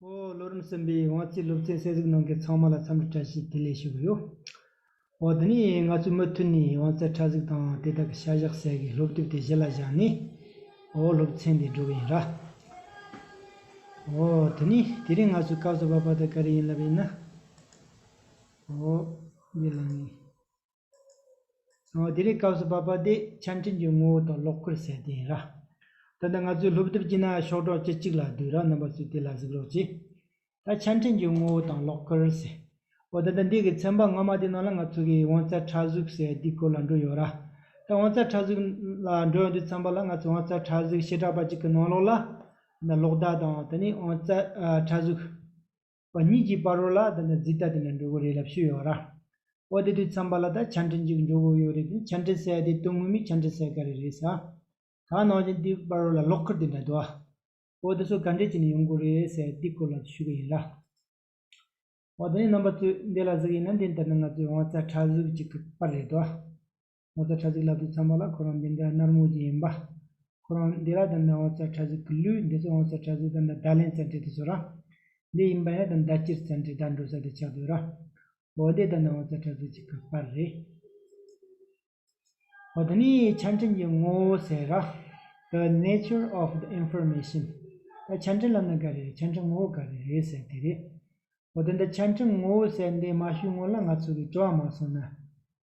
བློ་རིམ་གསུམ་པའི་དབང་རྩའི་སློབ་ཚན་གསལ་གཟིགས་གནང་མཁན་ཚང་མ་ལ་འཚམས་འདྲི་བཀྲ་ཤིས་བདེ་ལེགས་ཞུ་གི་ཡོད། འོ་དེ་ནས་ང་ཚོས་མུ་མཐུད་ནས་དབང་རྩའི་ཕྲ་གཟིགས་དང་དེ་དག་གི་བྱ་གཞག་གསལ་གྱི་སློབ་དེབ་དེ་གཞི་ལ་བཞག་ནས་འོ་སློབ་ཚན་འདི་སྒྲུབ་ཡིན། འོ་དེ་ནས་དེ་རིང་ང་ཚོས་སྐབས་སུ་བབ་པ་དེ་ག་རེ་ཡིན་ལབ་ཡིན་ན། འོ་འདི་ལ་ངེས། དེ་རིང་སྐབས་སུ་བབས་པ་འདི་ཆ་འཕྲིན་གྱི་ངོ་བོ་དང་ལོག་སྐུར་གསལ་བསྟན་ཡིན་ར། ད་ལྟ་ང་ཚོས་ལྷུག་བསྡུར་གྱིས་ན་ཤོག་གྲོགས་ཁྱེད་གཅིག་ལ་བསྡུས་ར་རྣམ་པ་ཚོས་དེ་ལ་གཟིགས་རོགས་གྱིས། ད་ཆ་འཕྲིན་གྱི་ངོ་བོ་དང་ལོག་སྐུར་ཟེར། འོ་ད་ལྟ་འདི་གི་ཚན་པ་སྔ་མ་དེ་ནང་ལ་ང་ཚོ་གི་དབང་རྩ་ཕྲ་གཟུགས་ཟེར་དེའི་སྐོར་ལ་འགྲོ་ཡོད་ར། ད་དབང་རྩ་ཕྲ་གཟུགས་ལ་འགྲོ་ཡོང་དུས་ཚན་པ་ལ་ང་ཚོས་དབང་རྩ་ཕྲ་གཟུགས་བྱེ་བྲག་པ་གཅིག་གི་ནང་ལོགས་ལ། ལོག་ལྟ་དང་ད་ནི་དབང་རྩ་ཕྲ་གཟུགས། པ་གཉིས་ཀྱིས་པར་རོ་ལ་དེ་འདྲ་རྫིག་ལྟ་དེ་འདྲ་འགྲོ་གི་རེད་ལབ་ཤུ་ཡོད་ར། འོ་དེ་དུས་ཚང་པ་ལ་ད་ཆ་འཕྲིན་གཅིག་འགྲོ་གི་ཡོད་རེད་དེ་ཆ་འཕྲིན་གསལ་དེ་དོན་ངོ་མི་ཆ་འཕྲིན་གསལ་ག་རེ་རེད་ས། ད་ནང་བཞིན་དེ་པར་རོ་ལ་ལོག་ཁར་དེ་འདྲ་དུ། འོ་དེ་ཚོ་ག་འདྲས་བྱས་ནས་ཡོང་གི་རེད་ཟེར་དེ་སྐོར་ལ་ཞུ་གི་ཡིན་ར། འོ་དེ་ནས་རྣམ་པ་ཚོས་འདི་ལ་གཟིགས་ཡིན་ན་འདི་ལྟར་ན་ང་ཚོའི་དབང་རྩ་ཕྲ་གཟུགས་གཅིག་གི་པར་རེད་དོ། ངོ་ཚ་ཁྲ་ཟིག་ལབ་ཏུ་འཚམས་པ་ལ་ཁོ་རང་འདི་འདྲ་ནར་མོ་ཅིག་ཡིན་པ། ཁོ་རང་འདི་ར་དང་འདྲ་ངོ་ཚ་ཁྲ་ཟིག་གི་ལུས་འདི་ཚོ་ངོ་ཚ་ཁྲ་ཟིག་དང་འདྲ་བརྡ་ལན་ཙམ་དྲིས་ཏེ་སོ་ར། འདི་ཡིན་པ་ཡང་དང་འདྲ་སྤྱིར་ཚན་དྲིས་བརྡ་འགྲོ་ས་དེ་ཆགས་དུས་ར། འོ་འདི་དང་འདྲ་ངོ་ཚ་ཁྲ་ཟིག་ཅིག་གི་པར་རེད། འོ་འདི་ནི་ཆ་འཕྲིན་གྱི་ངོ་བོ་ཟེར་ར། The nature of the information། ད་ཆ་འཕྲིན་ལམ་ནི་ག་རེ་རེད་ཆ་འཕྲིན་ངོ་བོ་ག་རེ་རེད་ཟེར་དེ་རེད། འོ་དེ་འདྲ་ཆ་འཕྲིན་ངོ་བོ་ཟེར་འདི་མ་ཞུས་སྔོན་ལ་ང་ཚོ་གིས་སྤྲོ་བ་མ་སོང་ན།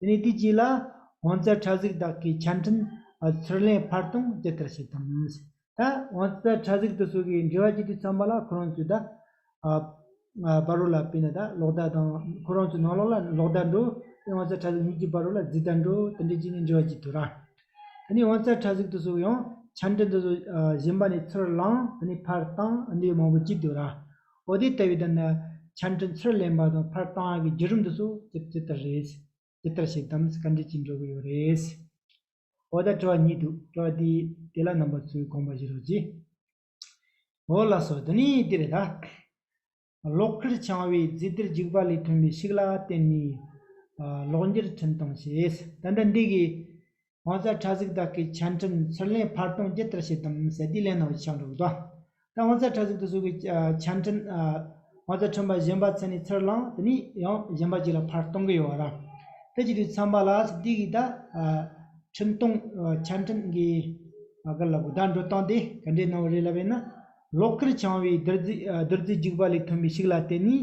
དེ་ནས་དུས་གཅིག་ལ། དབང་རྩ་ཁྲ་གཟུགས་བདག་གི་ཆ་འཕྲིན། ཚུར་ལེན་བར་སྟོང་ཇི་ལྟར་བྱེད་དམ། ད་དབང་རྩ་ཁྲ་གཟུགས་དུ་སོ་གའི་འབྲེལ་བ་ཇི་སྟེ་ཚང་པ་ལ་ཁོ་རང་ཚོའི་ད། བ་རོ་ལ་བལྟས་ན་ད་ལོག་ད་དང། ཁོ་རང་ཚོའི་ནང་ལོག་ལ་ལོག་ད་འགྲོ། དེ་དབང་རྩ་ཁྲ་གཟུགས་གཉིས་ཀྱི་བ་རོ་ལ་རྫི་ད་འགྲོ་དེ་འདྲའི་གཅིག་ནི་འབྲེལ་བ་གཅིག་ཏུ་ར། དེ་ནས་དབང་རྩ་ཁྲ་གཟུགས་དུ་སོ་ཡང་ཆ་འཕྲིན་དུ་སོ་གཞན་པ་ནི་ཚུར་བླངས་དེ་ནས་བར་སྟོང་འདི་མང་པོ་གཅིག་ཏུ་ར། པོ་དེ་ལྟ་བུའི་དོན་ནི་ཆ་འཕྲིན་ཚུར་ལེན་པ་དང་འཕར་སྟངས་ཀྱི་བརྒྱུད་རིམ་དུ་སོ་ཅི་ཇི་ལྟར་རེད། ཇི་ལྟར་བྱེད་དམ་བཀའ་འདྲི་གཅིག་འགྲོ་གི་ཡོད་རེད། འོ་ད་སྤྲོ་བ་གཉིས་འདུག་སྤྲོ་བ་དེ་དེ་ལ་རྣམ་པ་ཚོས་དགོངས་པ་བཞེས་རོགས་གྱིས། འོ་ལགས་སོ་དེ་ནི་འདི་རེད་ད། གློག་ཁུར་འཆང་བའི་རྫས་གཏེར་འཇིགས་པ་ལས་ཐོན་པའི་ཤིག་ལ་བརྟེན་ནས། གློག་འགྱུར་འཕྲིན་བཏང་ཞེས་ད་ལྟ་འདི་གའི། ཧོང་ཚ་ཁྲ་གཟིགས་དག་གི་ཆ་འཕྲིན་ཚུར་ལེན་བར་སྟོང་བརྒྱད་ལྟར་བྱེད་དམ་ཟེར་དུས་ལན་གནང་བའི་ཕྱག་འབྲུག་དང། ད་ཧོང་ཚ་ཁྲ་གཟིགས་དུ་བཟོ་དགོས་ཆ་འཕྲིན། ཧོང་ཚ་ཁྲོན་པ་གཞན་པ་ཚུར་ནས་ཚུར་བླངས་དེ་ནས་ཡང་གཞན་པ་ཅིག་ལ་བར་སྟོང་གི་ཡོད་བ་རང། དེ་བྱེད་དུས་ཚངས་པ་ལགས་སུ་དེ་གིས་ད་འཕྲིན་གཏོང་ཆ་འཕྲིན་གི་སྐོར་ལ་གོ་བརྡ་འགྲོ་སྟངས་དེ་ག་འདྲའི་གནང་བ་རེད་ལབ་ཡོད་ན། ལོག་ཁར་འཆང་བའི་བདུད་རྩི་རྒྱུག་པ་ལས་ཐོན་པའི་ཤིག་ལ་བརྟེན་ནས་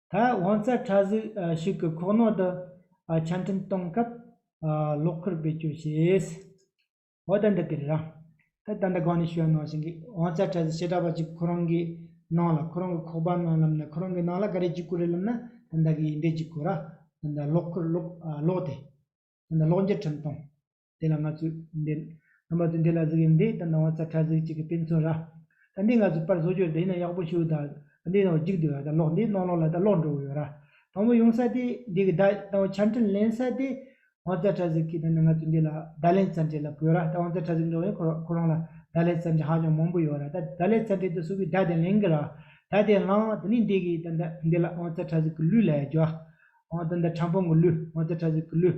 ད་དབང་རྩ་ཕྲ་གཟུགས་ཤིག་གི་ཁོག་ནང་དུ་ཆ་འཕྲིན་གཏོང་སྐབས་གློག་འཁོར་བེད་སྤྱོད་བྱས། འོ་ད་འདི་དེ་རེད་ར། ད་ད་འདི་གང་ནས་བྱོས་ནང་བཞིན་གྱིས་དབང་རྩ་ཕྲ་གཟུགས་བྱེ་བྲག་པ་གཅིག་ཁོ་རང་གི་ནང་ལ་ཁོ་རང་གི་ཁོག་པ་ནང་ལམ་ནས་ཁོ་རང་གི་ནང་ལ་ག་རེ་གཅིག་གོ་རེ་ལབ་ན་ད་འདི་གི་ཡིན་འདི་གཅིག་གོ་ར། ད་འདི་གློག་འཁོར་གློག་གློག་དེ། ད་འདི་གློག་འགྱུར་འཕྲིན་གཏོང། དེ་ལ་ང་ཚོས་འདེད། ང་མ་ཚོས་འདེད་ལ་གཟིགས་ཡིན་འདི་ད་ནང་བ་ཚ་ཁྲ་ཟིག་ཅིག་གི་དཔེ་མཚོན་ར། ད་འདི་ང་ཚོས་པར་བཟོ་རྒྱུར་དེ་ཡིན་ན་ཡག་པོ་ཞུ་ད་ད་འདི་ནང་བ་འཇིག་འདུག་ཡ་ད་ལོག་འདི་ནང་ལོག་ལ་ད་ལོག་འགྲོ་གི་ཡོད་ར། དང་པོ་ཡོང་ས་དེ་འདི་གི་ད་དང་བ་ཆ་འཕྲིན་ལེན་ས་དེ་བང་རྩལ་ཁྲ་ཟིག་གིས་ད་ནི་ང་ཚོས་འདི་ལ་ད་ལེན་ས་འབྲེལ་ལ་བོས་ར་ད་བང་རྩལ་ཁྲ་ཟིག་འགྲོ་ཡིན་ཁོ་རང་ཁོ་རང་ལ་ད་ལེན་ས་འབྲེལ་ཧ་ཅང་མང་པོ་ཡོད་ར་ད་ད་ལེན་ས་འབྲེལ་དེ་སུ་གིས་ད་དེ་ལེན་གི་ར་ད་དེ་ལང་ད་ནི་འདི་གིས་ད་འདི་ལ་བང་རྩལ་ཁྲ་ཟིག་གི་ལུས་ལ་ཡ་རྒྱོ། ཨང་ད་འདི་ཁྲམ་ཕང་གི་ལུས་བང་རྩལ་ཁྲ་ཟིག་གི་ལུས།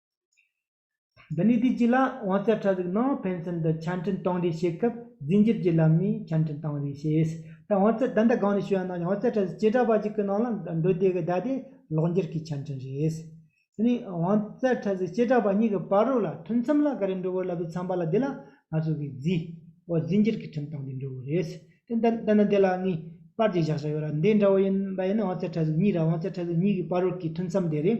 འདི་ནས་དུས་གཅིག་ལ་དབང་རྩའི་ཁྲ་ཚིག་ནང་ཕན་ཚུན་དུ་ཆ་འཕྲིན་གཏོང་རེས་བྱེད་སྐབས་རྫས་འགྱུར་གྱི་ལམ་ནས་ཆ་འཕྲིན་གཏོང་རེས་བྱེད། ད་དབང་རྩའི་བདག་འདྲ་གང་ནས་བྱུང་ཡང་ནའང་དབང་རྩའི་ཁྲ་ཚིག་བྱེ་བྲག་པ་གཅིག་གི་ནང་ལ་འདུས་སྡེ་གི་བརྡ་དེ་ལོགས་འགྱུར་གྱི་ཆ་འཕྲིན་རེད། དེ་ནས་དབང་རྩའི་ཁྲ་ཚིག་བྱེ་བྲག་པ་གཉིས་ཀྱི་བར་རོ་ལ་མཐུན་མཚམས་ལ་ག་རེ་འགྲོ་བའི་ལབ་པའི་མཚམས་པ་ལ་དེ་ལ་ང་ཚོ་གིས་རྫིས། བ་རྫས་འགྱུར་གྱི་འཕྲིན་གཏོང་སྡེ་འགྲོ་བ་རེད། དེ་ལྟ་ན་དེ་ལ་ནི་པར་གྱི་བཞག་བྱ་ཡོད་ལ་འདི་འདྲ་བོ་ཡིན་པ་ཡིན་ན་དབང་རྩའི་ཁྲ་ཚིག་གཉིས་ར་དབང་རྩའི་ཁྲ་ཚིག་གཉིས་ཀྱི་བར་རོ་ཀྱི་མཐུན་མཚམས་དེ་རེད།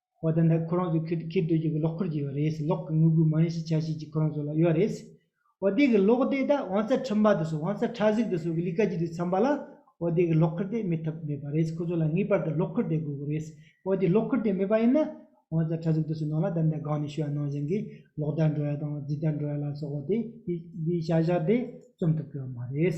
བ་དེ་འདྲ་ཁོ་རང་ཚོས་ཁེར་ཁེར་སྡོད་གཞུག་གི་ལོག་འཁོར་གྱི་ཡོད་རེད་ཟེར་ལོག་གི་དངུལ་སྒུལ་མ་ཡིན་ཞེས་ཆ་ཤས་ཀྱིས་ཁོ་རང་ཚོ་ལ་གཡོལ་བ་རེད་ཟེར། འོ་དེ་གི་ལོག་དེ་དག་བང་རྩལ་ཁྲིམས་པ་དེ་ཚོ་བང་རྩལ་ཁྲག་ཟིག་དེ་ཚོ་གི་ལི་ཀ་གྱི་དུས་མཚམས་པ་ལ་འོ་དེ་གི་ལོག་འཁོར་དེ་མེད་ཐབས་མེད་པ་རེད་ཁོ་ཚོ་ལ་ངེས་པར་དུ་ལོག་འཁོར་དེ་དགོས་གི་རེད་འོ་དེ་ལོག་འཁོར་དེ་མེད་པ་ཡིན་ན་བང་རྩལ་ཁྲག་ཟིག་དེ་ཚོའི་ནང་ལ་དེ་འདྲ་སྒང་ནས་ཤི་བ་ནང་བཞིན་གྱི་ལོག་ལྟ་འགྲོ་ཡ་དང་རྫི་ལྟ་འགྲོ་ཡ་ལ་སོགས་པ་དེ་དེའི་བྱ་བཞག་དེ་རྩོམ་ཐུབ་ཀྱི་ཡོད་མ་རེད།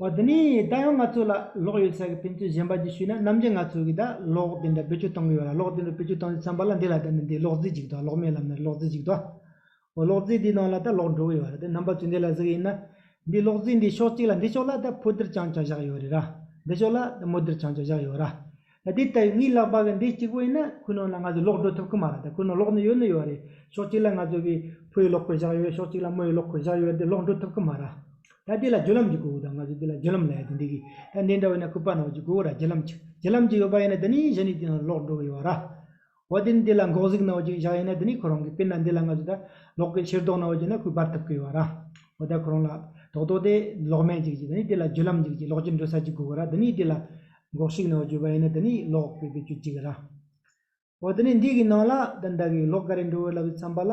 བ་འདི་ནས་ད་ཡང་ང་ཚོ་ལ་ལོག་ཡོད་ས་གི་ཕན་ཚུན་གཞན་པ་གྱིས་ཞུས་ན་ནམ་རྒྱུན་ང་ཚོ་གིས་ད་ལོག་དེ་འདྲ་བེད་སྤྱོད་གཏོང་གི་ཡོད་ལ་ལོག་དེ་འདྲ་བེད་སྤྱོད་གཏོང་རྒྱུ་ཚང་པ་ལ་འདི་ལ་ད་ནི་འདི་ལོག་རྫི་ཅིག་འདུག་ལོག་མེད་ལབ་ན་རི་ལོག་རྫི་ཅིག་འདུག་འོ་ལོག་རྫི་འདིའི་ནང་ལ་ད་ལོག་འགྲོ་གི་ཡོད་རེད་དེ་རྣམ་པ་ཚོས་འདི་ལ་གཟིགས་ཡིན་ན། འདི་ལོག་རྫི་འདི་ཕྱོགས་གཅིག་ལ་འདི་ཕྱོགས་ལ་ད་ཕོ་འདིར་ཅང་ཅང་བཞག་ཡོད་རེད་ར། འདི་ཕྱོགས་ལ་ད་མོ་འདིར་ཅང་ཅང་བཞག་ཡོད་ར། དེ་ལྟ་བུའི་ངའི་ལག་པ་གི་འདི་གཅིག་པོ་ཡིན་ན་ཁོ་ནང་ལ་ང་ཚོ་ལོག་འགྲོ་ཐུབ་ཀྱི་མ་རེད་དེ་ཁོ་ནང་ལོག་ནི་ཡོད་ནི་ཡོད་རེད་ཕྱོགས་གཅིག་ལ་ང་ཚོ་གི་ཕོའི་ལོག་ཁོད་བཞག་ཡོད་ཕྱོགས་གཅིག་ལ་མོའི་ལོག་ཁོད་བཞག་ཡོད་དེ་ལོག་འགྲོ་ཐུབ་ཀྱི་མ་རེད། ད་དེ་ལ་བརྒྱུད་ལམ་གྱི་དགོས་དགོས་དང་ང་ཚོ་དེ་ལ་བརྒྱུད་ལམ་ལས་ཡོད་དེ་འདི་གི་ད་འདི་འདྲ་བའི་ནང་ཁུ་པ་ནང་གི་དགོས་དགོས་ར་བརྒྱུད་ལམ་གྱི་བརྒྱུད་ལམ་གྱི་ཡོད་པ་ཡིན་ན་དེ་ནི་གཞི་ནས་དེ་ནང་ལོག་འགྲོ་གི་ཡོད་ར། བ་དེ་ནི་དེ་ལ་འགོག་གཟིགས་གནང་བ་གཅིག་བཞག་ཡིན་ན་དེ་ནི་ཁོ་རང་གིས་དཔེར་ན་འདི་ལ་ང་ཚོས་ད་ལོག་གི་ཕྱིར་རྟོགས་གནང་བ་གཅིག་ན་ཁོས་བར་ཐག་བསྐོས་བ་ར། འོ་ད་ཁོ་རང་ལ་དོགས་དོགས་ཏེ་ལོག་སྨད་ཅིག་བྱེད་དེ་ནི་དེ་ལ་བརྒྱུད་ལམ་ཅིག་བྱེད་ལོག་ཅིག་འགྲོ་ས་ཅིག་དགོས་བ་ར་དེ་ནི་དེ་ལ་འགོག་གཞིགས་གནང་བ་བརྒྱུད་པ་ཡིན་ན་དེ་ནི་ལོག་པའི་བེད་སྤྱོད་ཅིག་ར། འོ་དེ་ནི་འདི་གི་ནང་ལ་ད་ཟླ་གིས་ལོག་ག་རེ་འགྲོ་འོས་ལབ་ཡོད་བསམ་པ་ལ།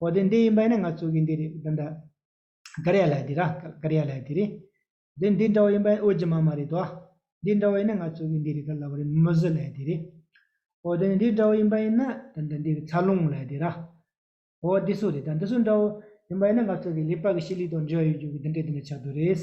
འོ་དེ་འདི་ཡིན་པ་ཡིན་ན་ང་གཙོས་ཀྱི་འདི་རེད་འདི་འདྲ། ཀ་རེ་ཡ་ལ་འདི་ར་ཀ་རེ་ཡ་ལ་དེ་རེད། དེ་འདི་འདྲ་བ་ཡིན་པ་ཨོ་རྗི་མ་མ་རེད་དོ། འདི་འདྲ་བ་ཡིན་ན་ང་གཙོས་ཀྱི་འདི་རེད་ཀ་ལ་བ་རེད་མུ་ཟི་ལ་དེ་རེད། འོ་དེ་འདི་འདྲ་བ་ཡིན་པ་ཡིན་ན་དེ་འདྲ་འདི་ཚ་ལུང་ལ་དེ་ར། འོ་འདི་སུ་རེད་ད་འདི་སུ་འདྲ་བོ་ཡིན་པ་ཡིན་ན་ང་གཙོས་ཀྱི་ལི་པག་གི་ཤི་ལི་དང་འབྲེལ་བ་ཡོད་རྒྱུ་གི་འདི་འདྲ་འདི་འདྲ་ཆགས་འདུག་རེད།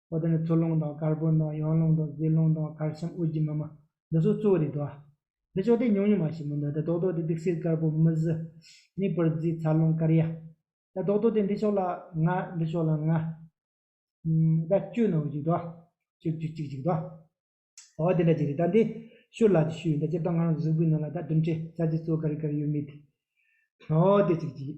ཨོ་ད་ནི་མཚོ་ལུང་དང་དཀར་པོ་ནག་གཡང་ལུང་དང་རྫི་ལུང་དང་དཀར་ཤམ་དབུས་ཀྱི་མི་མ་འདི་ཚོ་གཙོ་བོ་རེད་དོ། འདི་ཅོག་དེ་ཉུང་ཉུང་མ་ཞིག་མིན་འདུག་ད་རྡོག་རྡོག་དེ་སྡིག་སེལ་དཀར་པོ་མི་བཞི། ནི་བུར་རྫི་ཚ་ལུང་དཀར་ཡ། ད་རྡོག་རྡོག་དེ་འདི་ཕྱོགས་ལ་ལྔ་འདི་ཕྱོགས་ལ་ལྔ། ད་བཅུ་ནང་བཞུགས་དོ། བཅུ་བཅུ་གཅིག་གཅིག་དོ། ཨོ་དེ་འདྲ་ཅིག་རེད་ད་འདི་ཤུར་ལག་གི་ཤུལ་ཡིན་ད་སྤྱིར་བཏང་ང་རང་གཟུགས་པོའི་ནང་ལ་ད་དུམ་ཁྲི་རྩ་གཅིག་གཙོ་དཀར་གི་དཀར་ཡོད་མེད་དེ། ཨོ་དེ་ཅིག་ཅིག།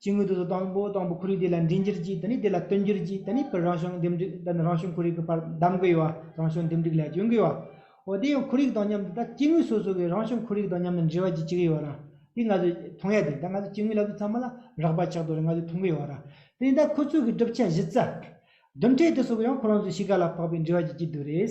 ཅི་དངོས་དུ་དང་པོ་དང་པོ་ཁོར་ཡུག་དེ་ལ་འདྲིས་འགྱུར་གྱིས་དེ་ནས་དེ་ལ་བསྟུན་འགྱུར་གྱིས་དེ་ནས་ཕར་རང་བྱུང་འདེམས་སྒྲིག་དང་རང་བྱུང་ཁོར་ཡུག་གི་བར་གདམ་དགོས་ཡོད་པ་རང་བྱུང་འདེམས་སྒྲིག་ལས་བྱུང་དགོས་ཡོད་པ། འོ་དེ་ཡང་ཁོར་ཡུག་དང་མཉམ་དུ་ད་སྐྱེ་དངོས་སོ་སོ་གི་རང་བྱུང་ཁོར་ཡུག་དང་མཉམ་དུ་འབྲེལ་བ་བགྱིད་ཀྱི་ཡོད་ར། དེ་ང་ཚོས་མཐོང་ཡ་དེ་ད་ང་ཚོས་སྐྱེ་དངོས་ལབ་དུས་ཚང་མ་ལ་རགས་པ་ཆགས་འདུག་ར་ང་ཚོས་མཐོང་གི་ཡོད་ར། དེ་ནས་ད་ཁོ་ཚོའི་གི་གྲུབ་ཆ་གཞི་རྩ། བསྡུར་འཕྲེད་དེ་སོགས་ཀྱི་ཡང་ཁོ་རང་ཚོའི་གཤིས་ཀ་ལ་བབས་པའི་འབྲེལ་བ་བགྱིད་ཀྱི་འདུག་རེད།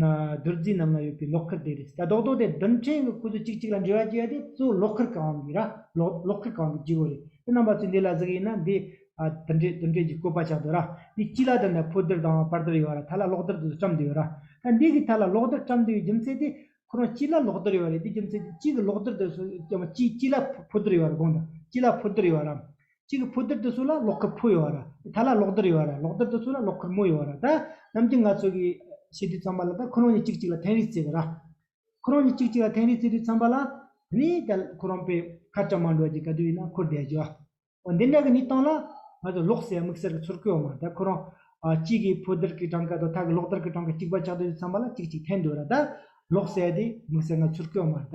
རྡོ་རྫིས་རྣམས་ལ་ཡོད་པའི་ལོག་ཁུར་དེ་རེད། ད་རྡོག་རྡོག་དེ་རྡུལ་ཕྲན་གྱི་ཁུ་ཚུར་གཅིག་གཅིག་ལ་འབྲེལ་བ་བཅད་དེ་གཙོ་བོ་ལོག་ཁུར་གང་གི་ར། ལོག་ཁུར་གང་གི་སྤྱི་བོ་རེད། དེ་རྣམ་པ་ཚོས་འདི་ལ་གཟུགས་ཡིན་ན་འདི། དུར་འདྲེ་དུར་འདྲེ་ཀྱི་བཀོད་པ་ཆགས་འདུག་ར། འདི་སྤྱི་ལ་དེ་འདྲ་ཕོ་དུར་དང་དཔའ་དུར་ཡོད་ར་ཐ་ལ་ལོག་དུར་དུ་བཀྲམ་དུ་ཡོད་ར། ད་འདི་གི་ཐ་ལ་ལོག་དུར་བཀྲམ་དུ་ཡོད་རྒྱུ་མཚན་དེ། ཁོ་རང་སྤྱི་ལ་ལོག་དུར་ཡོད་རེད་དེ་རྒྱུ་མཚན་དེ་སྤྱི་གི་ལོག་དུར་དུ་སོ་སྤྱི་ལ་ཕོ་དུར་ཡོད་ར་དགོངས་དང་སྤྱི་ལ་ཕོ་དུར་ཡོད་ར། གཅིག་གི་ཕོ་རྡུལ་དུ་སུ་ལ་གློག་འཁོར་ཕོ་ཡོད་བ་ར་ད་ལ་གློག་རྡུལ་ཡོད་བ་ར་གློག་རྡུལ་དུ་སུ་ལ་གློག་འཁོར་མོ་ཡོད་བ་ར་ད་རྣམས་ཀྱི་ང་ཚོ་གི་ཤེས་དུས་ཚང་པ་ལ་ད་ཁོ་རང་གཉིས་གཅིག་གཅིག་ལ་ཐེངས་རེ་བརྩེ་བ་ར། ཁོ་རང་གཉིས་གཅིག་གཅིག་ལ་ཐེངས་རེ་བརྩེ་དུས་ཚང་པ་ལ། ནི་ད་ཁོ་རང་པའི་ཁ་ཅག་མ་འགྲོ་གི་ག་དུས་ཡིན་ན་འཁོར་བསྡད་རྒྱུ་ཨ། འོ་འདི་འདྲ་གི་ནི་སྟངས་ལ། ང་ཚོ་ལོག་སྲེད་དམིགས་བསལ་གི་ཚུར་བཀོལ་བ་མ་ད་ཁོ་རང། གཅིག་གི་ཕོ་རྡུལ་གི་གྲངས་ཀ་དང་ད་གི་གློག་རྡུལ་གི་གྲངས་ཀ་གཅིག་པ་ཆགས་དུས་ཚང་པ་ལ་གཅིག་གཅིག་ཐེངས་འདུག་ར་ད། ལོག་སྲེད་དེ་དམིགས་བསལ་ང་ཚུར་བཀོལ་བ་མ་ད།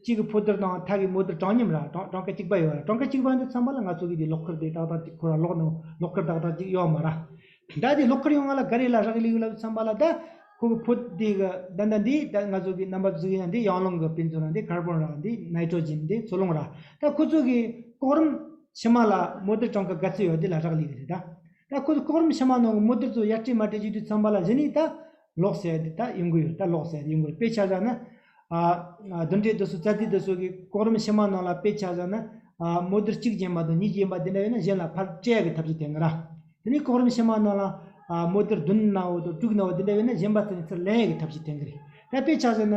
གཅིག་གི་ཕོ་ལྟར་དང་ཐག་གི་མོ་ལྟར་གྲངས་མཉམ་ལ་གྲངས་ཀ་གཅིག་པ་ཡོད་ར་གྲངས་ཀ་གཅིག་པ་འདི་ཚང་མ་ལ་ང་ཚོ་གི་དེ་ལོག་ཁར་དེ་ཏག་ཏག་ཅིག་ཁོ་ར་ལོག་ནང་ལོག་ཁར་ཏག་ཏག་ཅིག་ཡོད་མ་ར། ད་དེ་ལོག་ཁར་ཡོང་ང་ལ་ག་རེ་ལ་རག་ལས་ཡོད་ལབ་ཚང་མ་ལ་ད་ཁོ་གི་ཕོ་དེ་གི་ད་ད་འདི་ད་ང་ཚོ་གི་རྣམ་པ་བརྫུ་ཡིན་ན་འདི་ཡང་ལོང་གི་དཔེ་མཚོན་ར་འདི་ཁར་བོན་ར་འདི་ནའི་ཏྲོ་ཇིན་འདི་ཚོ་ལོང་ར་ད་ཁོ་ཚོ་གི་ལྐོག་རམ་ཕྱི་མ་ལ་མོ་ལྟར་གྲངས་ཀ་ག་ཚོད་ཡོད་དེ་ལ་རག་ལས་གི་རེད་ད། ད་ཁོ་ཚོ་ལྐོག་རམ་ཕྱི་མ་ནང་གི་མོ་ལྟར་ཚོ་ཡར་སྤྲད་མར་སྤྲད་བྱེད་དུས་ཚང་མ་ལ་གཞི་ནས་ད་ལོག་བཤད་འདི་དག་ཡོང་གི་ཡོད་ད་ལོག་བཤད་ཡོང་གི་དཔེ་ཆ་བཞག་ན། བདུན་གྲས་དུ་སོ་རྩ་དེ་དུ་སོ་གི་གོ་རིམ་ཕྱི་མ་ནང་ལ་དཔེ་ཆ་བཞག་ན། མོ་དུར་གཅིག་བྱིན་པ་དང་གཉིས་བྱིན་པ་དེ་འདྲ་ཡོད་ན་གཞན་ལ་ཕར་བཀྲལ་གི་ཐབས་ཀྱི་དེ་འགའ་ར། དེ་ནས་གོ་རིམ་ཕྱི་མ་ནང་ལ། མོ་དུར་བདུན་ན་བོ་དང་དྲུག་ན་བོ་དེ་འདྲ་ཡོད་ན་གཞན་པ་ཚོ་ནས་ཚུར་ལེན་གི་ཐབས་ཀྱི་དེ་འགའ་རེད། ད་དཔེ་ཆ་བཞག་ན།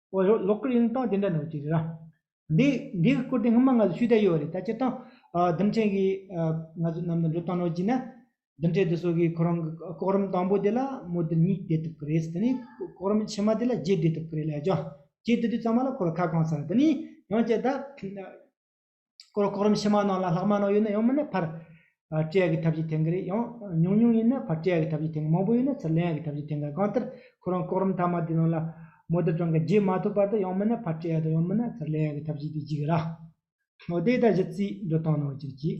བོད་ལྗོངས་གློག་སྐུད་ཡོང་སྟངས་དེ་འདྲ་ནང་བྱས་རེད་ར། འདི་འདི་བསྐུར་ཏེ་སྔོན་མ་ང་ཚོས་ཤུལ་བསྡད་ཡོད་རེད་ད་སྤྱིར་བཏང། ལྡུམ་ཆེན་གྱིས་ང་ཚོ་གནམ་དུ་འགྲོ་སྟངས་ནང་བྱས་ན། ལྡུམ་ཆེན་དེ་ཚོ་གིས་ཁོ་རང་གི་ལྐོག་རུམ་དང་པོ་དེ་ལ་མོ་དེ་གཉིས་བསྡད་ཐུབ་ཀྱི་རེད་ཟེར་དེ་ནས་ལྐོག་རུམ་ཕྱི་མ་དེ་ལ་རྗེས་བསྡད་ཐུབ་ཀྱི་རེད་ལས་བྱང་རྗེས་བསྡད་དུས་ཚང་མ་ལ་ཁོ་རང་ཁ་བསྐངས་ཚར་རེད་དེ་ནས་ཡང་བསྐྱར་ད། སྐོར་གོ་རིམ་ཕྱི་མ་ནང་ལ་ལྷག་མ་ནང་ཡོད་ན་ཡང་མིན་ན་ཕར་བཀྲལ་གྱི་ཐབས་ཀྱིས་འཐེན་གི་རེད་ཡང་ཉུང་ཉུང་ཡིན་ན་ཕར་བཀྲལ་གྱི་ཐབས་ཀྱིས་འཐེན་གི་མང་པོ་ཡོད་ན་ཚུར་ལེན་གྱི་ཐབས་ཀྱིས་འཐེན་གི་གང་ལྟར་ཁོ་རང་གོ་རིམ་མཐའ་མ་དེའི་ནང་ལ་མོ་དེབ་གྲངས་ཀྱི་བརྒྱད་མ་ཐོབ་བར་དུ་ཡང་མིན་ན་ཕར་བཀྲལ་དང་ཡང་མིན་ན་ཚུར་ལེན་གྱི་ཐབས་བྱེད་དུ་བཅུག་གི་ར། ནོར་དེ་དང་བཞི་རྩིས་འགྲོ་སྟངས་ནང་བཅུག་ཅིག།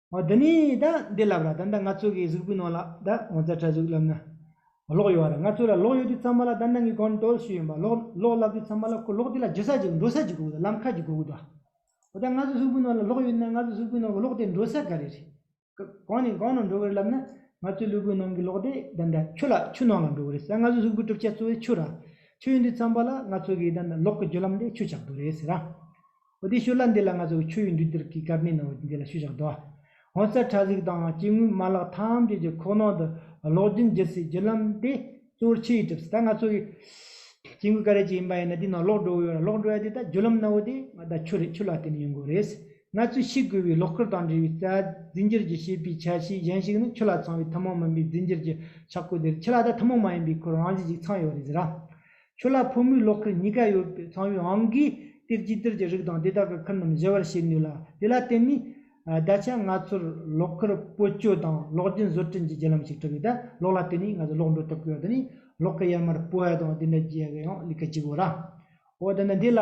ཨོ་འདི་ནི་ད་འདི་ལབ་ར་ད་ད་ང་ཚོ་གི་གཟུགས་པོའི་ནང་ལ་ད་ངོ་ཚ་ཁྲ་གཟུགས་ལབ་ན་ལོག་ཡོད་ར་ང་ཚོ་ལ་ལོག་ཡོད་དུས་ཚང་མ་ལ་ད་ནང་གི་གོན་ཏྲོལ་ཞུས་ཡོད་པ་ལོག་ལོག་ལབ་དུས་ཚང་མ་ལ་ཁོ་ལོག་དེ་ལ་འཇུ་ས་ཅིག་འགྲོ་ས་ཅིག་དགོས་གི་ལམ་ཁ་ཅིག་དགོས་གི་འདུག་ཨ་ད་ང་ཚོ་གཟུགས་པོའི་ནང་ལ་ལོག་ཡོད་ན་ང་ཚོ་གཟུགས་པོའི་ནང་གི་ལོག་དེ་འགྲོ་ས་ག་རེ་རེད། གང་ནས་གང་ནང་འགྲོ་གི་རེད་ལབ་ན་ང་ཚོའི་ལུས་པོའི་ནང་གི་ལོག་དེ་ད་ད་ཆུ་ལ་ཆུ་ནང་ལ་འགྲོ་གི་རེད་ཟེར་ང་ཚོའི་གཟུགས་པོའི་གྲུབ་ཆ་གཙོ་བོའི་ཆུ་ར་ཆུ་ཡིན་དུས་ཚང་མ་ལ་ང་ཚོ་གི་ད་ལོག་གི་རྒྱུ་ལམ་དེ་ཆུ་ཆགས་འདུག་རེད་ཟེར་ར། ཨོ་དེ་ཤོད་ལ་འདི་ལ་ང་ཚོ་ཆོས་ཡོད་འདུག་འདིར་གི་དཀར་མེ་ནང་འདི་ལ་ཤུ་བཞག་དོ། ཧོན་སར་གྲ་གཟིགས་དང་སྐྱེ་དངོས་མ་ལག་ཐམས་ཅད་ཀྱི་ཁོག་ནང་དུ་གློག་རྒྱུན་བརྒྱུད་སའི་རྒྱུ་ལམ་དེ་གཙོ་བོར་ཆུ་ཡིས་གྲུབ་སྲིད་ད་ང་ཚོ་གི་སྐྱེ་དངོས་ག་རེ་ཅིག་ཡིན་པ་ཡིན་ན་དེའི་ནང་གློག་འགྲོ་ཡོད་ར་གློག་འགྲོ་ཡ་དེ་ད་རྒྱུ་ལམ་ནའོ་དེ་ང་ད་ཆུ་རེད་ཆུ་ལ་བརྟེན་ནས་ཡོང་གི་རེད། ང་ཚོས་ཤེས་དགོས་པའི་གློག་ཁུར་དང་འབྲེལ་བའི་རྩ་རྫས་འགྱུར་གྱི་ཤེས་པའི་ཆ་ཤས་གཞན་ཞིག་ནི་ཆུ་ལ་ཚང་བའི་ཐུན་མོང་མིན་པའི་རྫས་འགྱུར་གྱི་ཆག་སྒོ་དེ་རེད་ཆུ་ལ་ད་ཐུན་མོང་མ་ཡིན་པའི་ཁུར་རང་བཞིན་ཞིག་ཚང་ཡོད་རེད་ཟེར་ར། ཁྱོད་ལ་ཕོ་མོའི་གློག་ཁུ་གཉིས་ཀ་ཡོད་པའི་ཚངས་བུའི་ཨང་ཀིའི་གཏེར་གྱིས་གཏེར་གྱི་རིགས་དང་དེ་དག་གི་ཁུར་རྣམས་གཞལ་བར་བྱེད་ནུས་ལ་དེ་ལ་བརྟེན་ནས་ད་ཆ་ང་ཚོར་གློག་ཁུར་བཀོལ་སྤྱོད་དང་གློག་རྒྱུན་བཟོ་སྐྲུན་གྱི་བརྒྱུད་ལམ་ཞིག་གྲུབ་ཡོད། གློག་ལ་བརྟེན་ནས་ང་ཚོས་གློག་འགྲོ་ཐུབ་ཀྱི་ཡོད་དེ་ནི་གློག་གི་ཡར་མར་སྤོ་བ་དང་དེ་འདྲ་བྱེད་ཀྱི་ཡོད་ལ་ཡང་ལས་ཀ་བྱེད་དགོས་ལ། འོ་ད་ནི་འདི་ལ།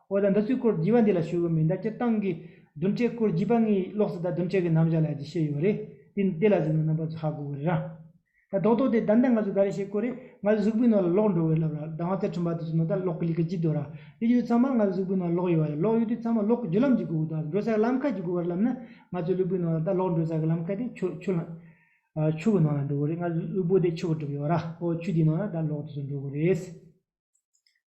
འོ་ད་འདི་ཚོའི་སྐོར་བགྱི་བ་འདི་ལ་ཞུ་གི་མིན་ད་སྤྱིར་བཏང་གི་བདུན་ཕྲད་སྐོར་བགྱིས་པ་ངའི་ལོགས་སུ་ད་བདུན་ཕྲད་ཀྱི་རྣམ་བཞག་ལ་ཅིག་ཤེས་ཡོད་རེད་དེ་ལ་གཟིགས་ན་རྣམ་པ་ཚོ་ཧ་གོ་གི་རེད་རང། ད་རྡོག་རྡོག་དེ་ད་ལྟ་ང་ཚོས་ག་རེ་བྱེད་དགོས་རེད་ང་ཚོའི་གཟུགས་པོའི་ནང་ལ་ལོག་འགྲོ་གི་རེད་ལབ་ར་ད་ང་ཚ་ཁྲིམས་པ་དེ་ཚོའི་ནང་ད་ལོག་གི་ལི་ཁ་ཅི་འདོད་ར་དེ་ཡོད་ཚང་མ་ང་ཚོའི་གཟུགས་པོའི་ནང་ལོག་ཡོད་རེད་ལོག་ཡོད་དུས་ཚང་མ་ལོག་གི་བརྒྱུད་ལམ་ཅིག་དགོས་གི་འདུག་འགྲོ་ས་གི་ལམ་ཁ་ཅིག་དགོས་གི་རེད་ལབ་ན་ང་ཚོའི་ལུས་པོའི་ནང་ལ་ད་ལོག་འགྲོ་ས་གི་ལམ་ཁ་དེ་ཆུ་ཆུ་ལ་ཆུ་གི་ནང་ལ་འགྲོ་གི་རེད་ང་ཚོའི་ལུས་པོ་དེ་ཆུ་གིས་གྲུབ་ཡོད་ར་འོ་ཆུ་དེའི་ནང་ལ་ད་ལོག་དེ་ཚོ་འགྲོ་གི་རེད།